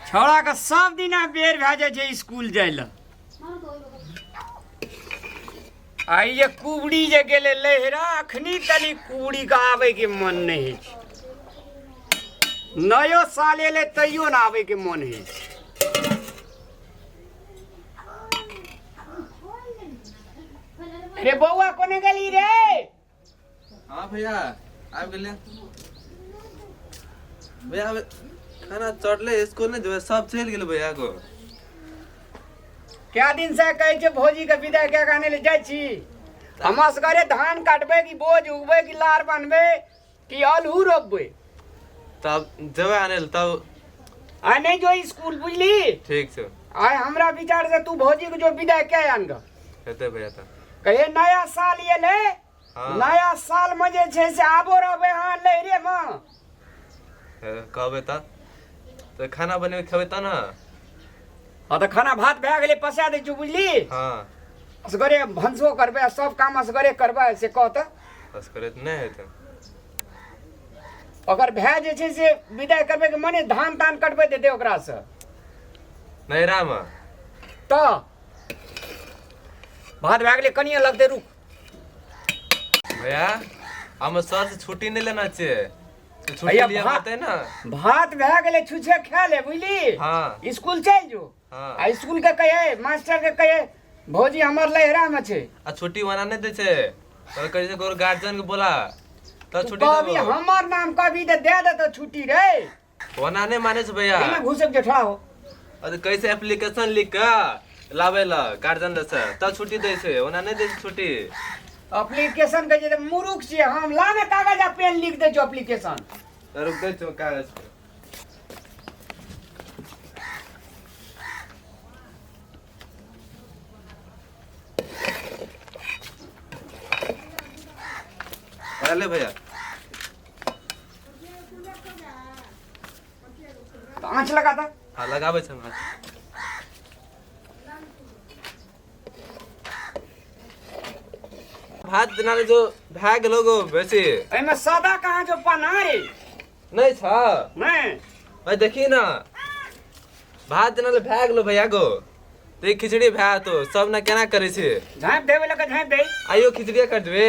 छोड़ा के सब दिन बेर भए जाइ छै स्कूल जाइ लए आइ जे कुबड़ी जे गेले लहरा अखनी तनी कुबड़ी के आवे के मन नहीं है नयो साल एले तैयो ना आवे के मन है रे बौआ कोने गेली रे हाँ भैया आबि गेलियै भैया आबि खाना चढ़ले स्कूल नहि जेबै सब चलि गेलै भैया को कए दिन से कहै छै भौजी के विदा कए के आनै ले जाइ छी हमरा सबके धान काटबै कि बोझ उगबै कि लार बान्हबै कि आल हु रब्बे तब जेबै आने लए तब आ नहीं जो स्कूल बुझली ठीक छै आय हमरा विचार से तू भौजी के जो विदा के आन ग हेतै भैया तब कहे नया साल ये ले हाँ। नया साल में जे छै से आबो रहबे हां लहरे में हे, कहबै तब तऽ खाना बनेबै खेबै तब ने हँ तऽ खाना भात भए गेलै पसा दै छियौ बुझली हँ असगरे भनसो करबै आ सब काम असगरे करबै से कह तऽ बस करे तऽ नहि हेतै ओकर भाय जे छै से विदाइ करबै के मने धान तान कटबै देतै ओकरासँ नैहरामे तऽ भात भए गेलै कनिए लगतै रुक भैया हमे सर से छुट्टी नहि लेना छै तो छुट्टी भैया, लिया भा- बात है ना भात भए गेलै छुछे खा ले बुझली हाँ स्कूल चलि जो हाँ आ स्कूल के कहे मास्टर के कहे भौजी हमर लहरा में छै आ छुट्टी वना नहीं दे छे तो कहे छे गोर गार्जियन के बोला तो तू छुट्टी कहबी देबो। हमर नाम कहबी तऽ दे देतौ छुट्टी रे वना नहीं माने छे भैया एहिमे घुसक जेठा हो अरे कैसे एप्लीकेशन लिख के लाबै लए गार्जियन लग से तब छुट्टी दै छै ओना नहि दै छै छुट्टी एप्लीकेशन के जे मुरुख छियै हम ला ने कागज आ पेन लिख दै छियौ एप्लीकेशन तऽ रुक दै छौ कागज पर। अरे भैया आँच लगा दऽ हाँ लगाबै छै हमरा भात बिना रे जो भए गेलो गो बेसी एहिमे सादा कहाँ जो पाना रे नहि छ नहि भाइ देखी न भात बिना रे भए गेलो भैया गो ते खिचड़ी भए तो सब ने केना करै छै झाँपि देबै लऽ कऽ झाँपि दे आइयो खिचड़िए कर देबै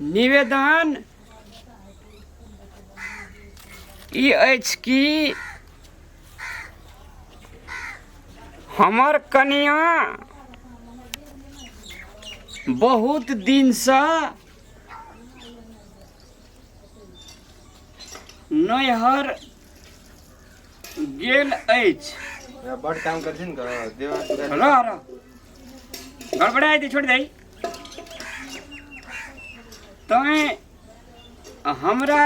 निवेदन ई अछि कि हमर कनिया बहुत दिनसँ नैहर गेल अछि बड़ काम करथिन ने देवा रह रह गड़बड़ा दे छोड़ दे तैँ हमरा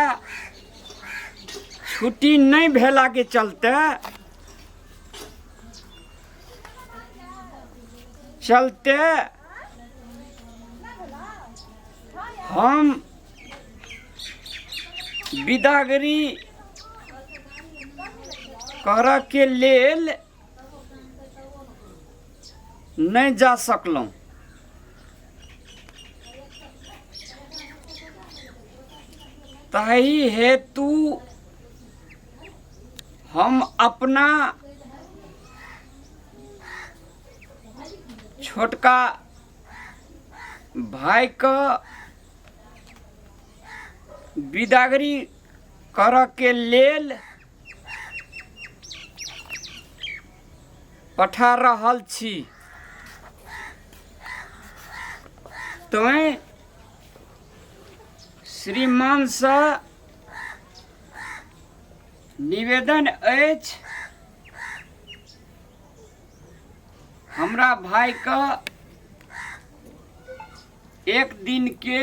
छुट्टी नहि भेलाके चलते चलते हम बिदागरी करऽके लेल नहि जा सकलहुँ ताहि हेतु हम अपना छोटका भाइके बिदागरी करऽके लेल पठा रहल छी तैं श्रीमानसँ निवेदन अछि हमरा भाइके एक दिनके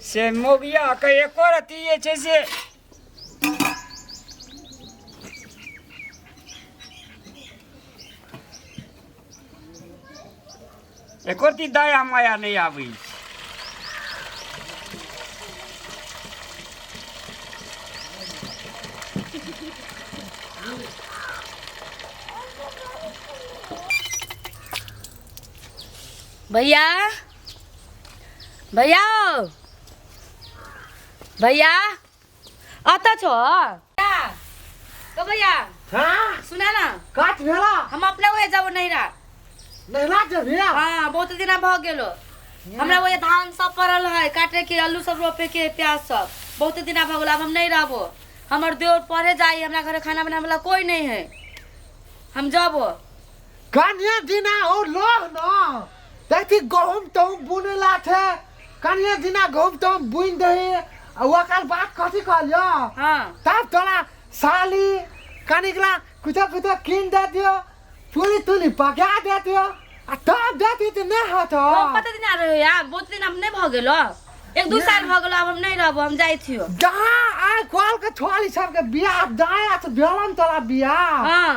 से मोगियाके एको रत्ती जे छै से एको रत्ती दया माया नहि आबै छै भैया भैया हो भैया अत छो भैया ओ भैया हाँ सुना ना काट भेला हम अपने वही जाबो नैरा नैरा जभी हाँ बहुत दिन भ गेलो हमरा वही धान सब पड़ल है काटे के आलू सब रोपे के प्याज सब बहुत दिन भ गेलो अब हम नहीं रहबो हमर देवर पढ़े जाई हमरा घरे खाना बनावे वाला कोई नहीं है हम जाबो कन्या दिना ओ लोग न तैती गहूम तहूम बुनैला छै कनिए दिना गहूम तहूम बुनि दही आ ओकर बाद कथी कहलियो हाँ। तब तोरा साली कनिकला कुछो कुछो कीन दे दियो चूली तूली पका दे दियो आ तब देती तऽ नहि होत ओ कते दिन आ रहे यार बहुत दिन हम नहीं भ गेलो एक दू साल भ गेलो अब हम नहीं रहबो हम जाइ छियो जहाँ आइ कॉल के छोड़ी सबके बियाह दाया से भेलन तोरा बियाह हाँ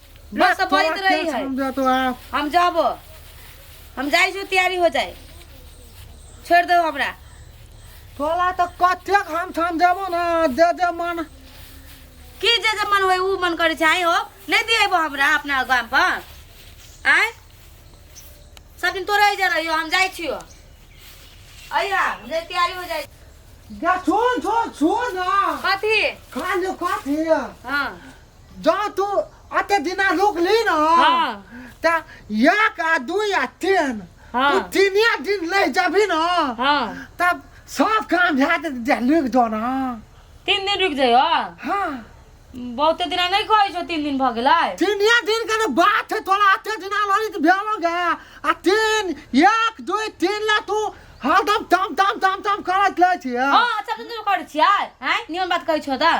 बस सब बोलत तोरा रही खेत है हम जातो आ हम जाबो हम जाइ छी तैयारी हो जाए छोड़ दो हमरा तोरा तो कतेक हम ठाम देबो ना दे दे मन की जे जे मन होय उ मन करे छै आइ हो नहीं दिएबो हमरा अपना गाम पर आय सब दिन तोरे जा रहियो हम जाइ छियो अइया हम जाइ तैयारी हो जाए जा छोड़ छोड़ छोड़ ना कथी खान जो खात है हां जो तू अते दिना रुक ली ना हाँ। ता एक आ दू या तीन हाँ। तू तीन या दिन ले जाबी ना हाँ। तब सब काम भे दे जा रुक दो ना तीन दिन रुक जाइयो हाँ बहुते दिना नहीं कहै छौ तीन दिन भऽ गेलै तीन या दिन के ना बात है तोरा अते दिना लड़ी तो भेलो गे आ तीन एक दू तीन ला तू हरदम तम तम तम तम करत ले छी हाँ अच्छा तुम करै छियै हैं निमन बात कहै छौ तऽ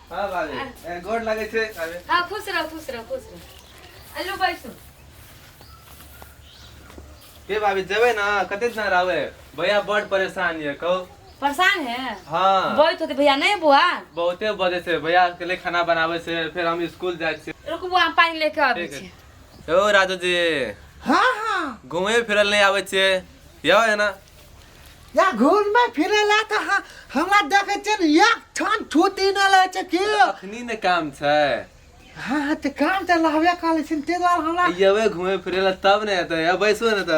हाँ बाबे ए, गोड़ लगे थे बाबे हाँ खुश रहो खुश रहो खुश रहो अल्लू बैठो के बाबे जेबे ना कते दिन रहबे भैया बड़ परेशान ये कहो परेशान है हाँ बैठ होते भैया नहीं बुआ बहुते बजे से भैया के लिए खाना बनावे से फिर हम स्कूल जाए से रुक बुआ हम पानी लेके आबै ठीक छी है। ओ राजू जी हाँ हाँ घूमे फिरल नहीं आवे छे यो है ना या घूर में फिरे ला तो हाँ हमरा देखे छे न एक ठन छुट्टी न ले छे के अखनी ने काम छै हाँ हाँ ते काम ते लहवे काले छिन ते द्वारा हमरा अयवे घूमे फिरे ला तब ने एते अब बैसो ने त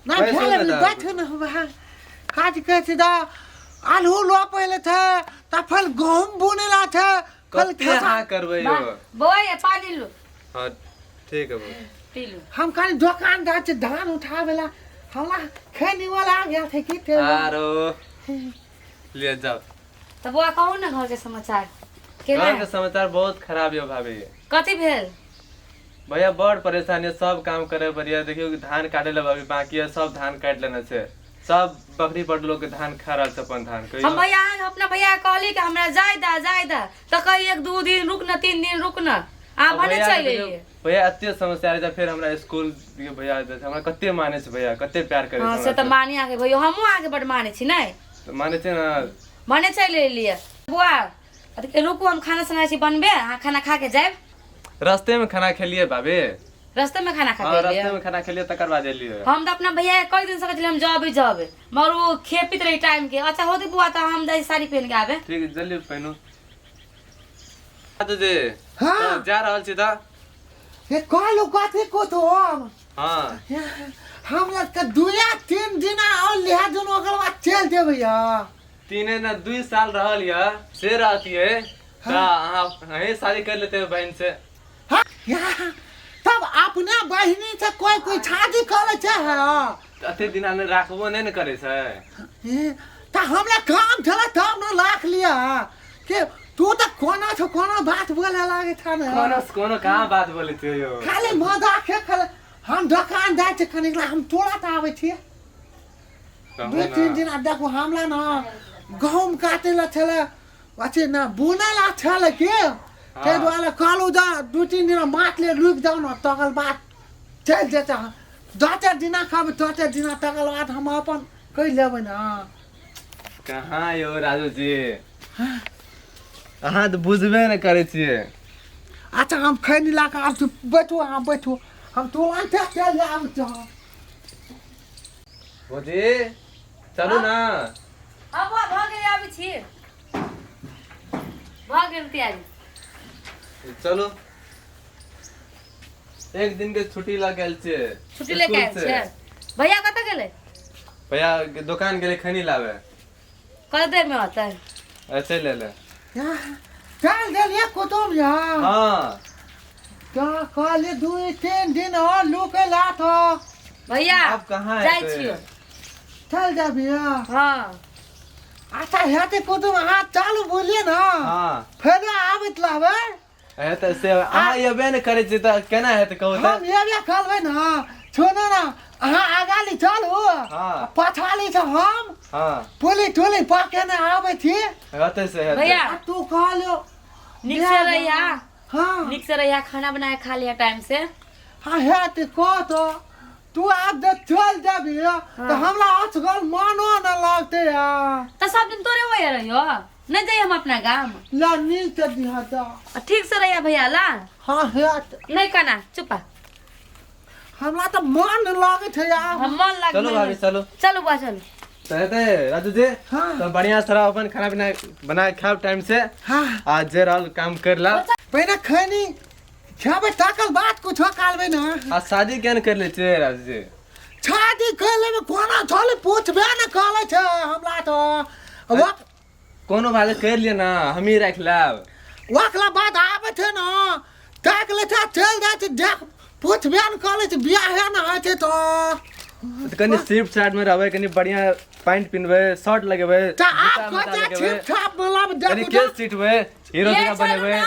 ना बैठो भेल न ने दा। बैठो न हम हाँ काज करे छे दा आलू लो पहले थे तफल गहूम बुने ला थे कल कते खा- हाँ करबै यो बोय ए पानी लो हाँ ठीक है बो। पी लो हम खाली दोकान जा छै धान उठाबे ला हमरा खैनी वाला आ गया थे की थे आरो ले जाओ तो बुआ कहू ने घर के समाचार केना घर के समाचार बहुत खराब यो भाभी कथी भेल भैया बड़ परेशानी है, सब काम करे बढ़िया देखियो कि धान काटे लगा अभी बाकी है सब धान काट लेने से सब बकरी बड़ लोग के धान खा रहल छै अपन धान कहियो हम भैया आयल अपना भैया के कहली कि हमरा जाय दा जाय दा तो कही एक दू दिन रुक न तीन दिन रुक न आ अब भने भैया चल के देखियौ, एलियै भैया एते समस्या रहै फिर हमरा स्कूल के भैया देते हमरा कते माने छै भैया कते प्यार करे हाँ छै से हमरा तऽ मानी आगे भैया हमहूँ आगे बड माने छी नहि से। माने छै ना भने चल एलियै बुआ अरे रुकू हम खाना सुनाइ छी बनबे अहाँ खाना खा के जाएब रस्ते में खाना खेलिए बाबे रस्ते में खाना खा हाँ के रस्ते एलियै में खाना खेलिए तकर बाद एलिए हम तऽ अपना भैया के कहि दिन सकैत हम जबे जबे मगर ओ खेपित रही टाइम के अच्छा होती बुआ तऽ हम जाइ साड़ी पहन के आबे ठीक है जल्दी पहनू दीदी हाँ। तो जा रहल छी तऽ हे कहलू कथी को तो हम हाँ हमरा के दुया तीन दिना और लिहा दुन ओकर बाद चल देबै यहाँ तीने ना दुई साल रहल या से रहती है ता अहाँ अहीं शादी कर लेते हैं बहन से हाँ, यहाँ, तब अपना बहिनी से कोई कोई शादी करे चाहे तो अते दिन आने राखबो नहीं न करे से ए, ता हमरा काम चला तब न लाख लिया के तू तो कोना छो कोना बात बोले लागे था ना कोनो से कोनो कहाँ बात बोले थे यो खाली मजाक है खाली हम दुकान जाए छे कनिक ला हम तोरा त आवे छे दू तीन दिन आ देखू हमरा ने गहूम काटे ला छलै अथी ने बुनै ला छलै के ताहि दुआरे कहलहुँ जा दू तीन दिन माथ ले रुकि जाउ ने तकर बाद चलि जेतै दस चारि दिना खाबै दस चारि दिना तकर बाद हम अपन कहि लेबै ने कहाँ यौ राजू जी अहाँ तऽ बुझबे ने करै छियै अच्छा हम खैनी ला कऽ आब तू बैठू अहाँ बैठू हम तुरन्ते चलि आबै छी भौजी चलू ना हाँ बौआ भऽ गेल आबै छी भऽ गेल तैयारी चलो एक दिन के छुट्टी लग गेल छै छुट्टी लेके आयल स्कूल से। छियै भैया कतऽ गेलै भैया के दुकान गेले खैनी लावे कल देर में आता है ऐसे ले ले चल देलिए कुतुब यहाँ हाँ क्या कल दू तीन दिन और लू के लात हो भैया अब कहाँ जाय एतै? छियो चल जा भैया हाँ अच्छा हेते कुतुब अहाँ चालू बोलिए ना हाँ फेर आबैत लाबे अहे त से अहाँ एबे ने करै छी त केना हेत कहू त हम एबे करबै न छोड़ू न अहाँ आगा ली चलू हाँ। पाछा ली से हम हां पुली टुली पाके ने आबै छी हेतै से हेतै भैया आ तू कहलो नीक से रहिया हाँ नीक से रहिया खाना बना के खा लिया टाइम से हाँ है ते कह तो तू आज जब चल जाबी तो हमरा असगर मानो न लगते यार तो सब दिन तोरे वही रहियो नहीं जाइए हम अपना गांव ला नील के दिहा दा आ, ठीक से रहिया भैया ला हाँ हेत नहीं कहना चुपा हमरा तो मन लागत है यार हम मन लग चलो भाभी चलो चलो बुआ चलो कहते राजू जी हाँ। तो बढ़िया सारा अपन खाना पीना बना के खाओ टाइम से हाँ आज जे रहल काम कर ला पहले खैनी खेबे ताकल बात कुछ कालबे ना आ शादी केन कर ले छे राजू जी छाती कहले में कोना थोले पूछबे न कहले छ हमरा तो वा कोनो भाले कर लिए ना हम ही रख लेब वाकला बात आबे छ न ताक ले था चल जा छ देख पूछबे न कहले छ बियाह है न है तो तो कनी सिर्फ शर्ट में रहबे कनी बढ़िया पैंट पिनबे शर्ट लगेबे ता आप जूता को मोजा जा लगेबे, छिप छाप बोला में कनी देखो केस सीटबे हीरो ये जगह चलो बनेबे ना।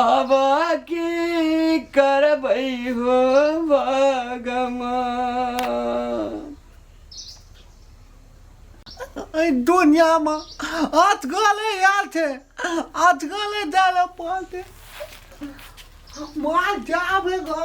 अब की करबै हो भगवान एहि दुनियामे अटकले आयल छै अटकले जाय लए पड़तै मार जाबे गा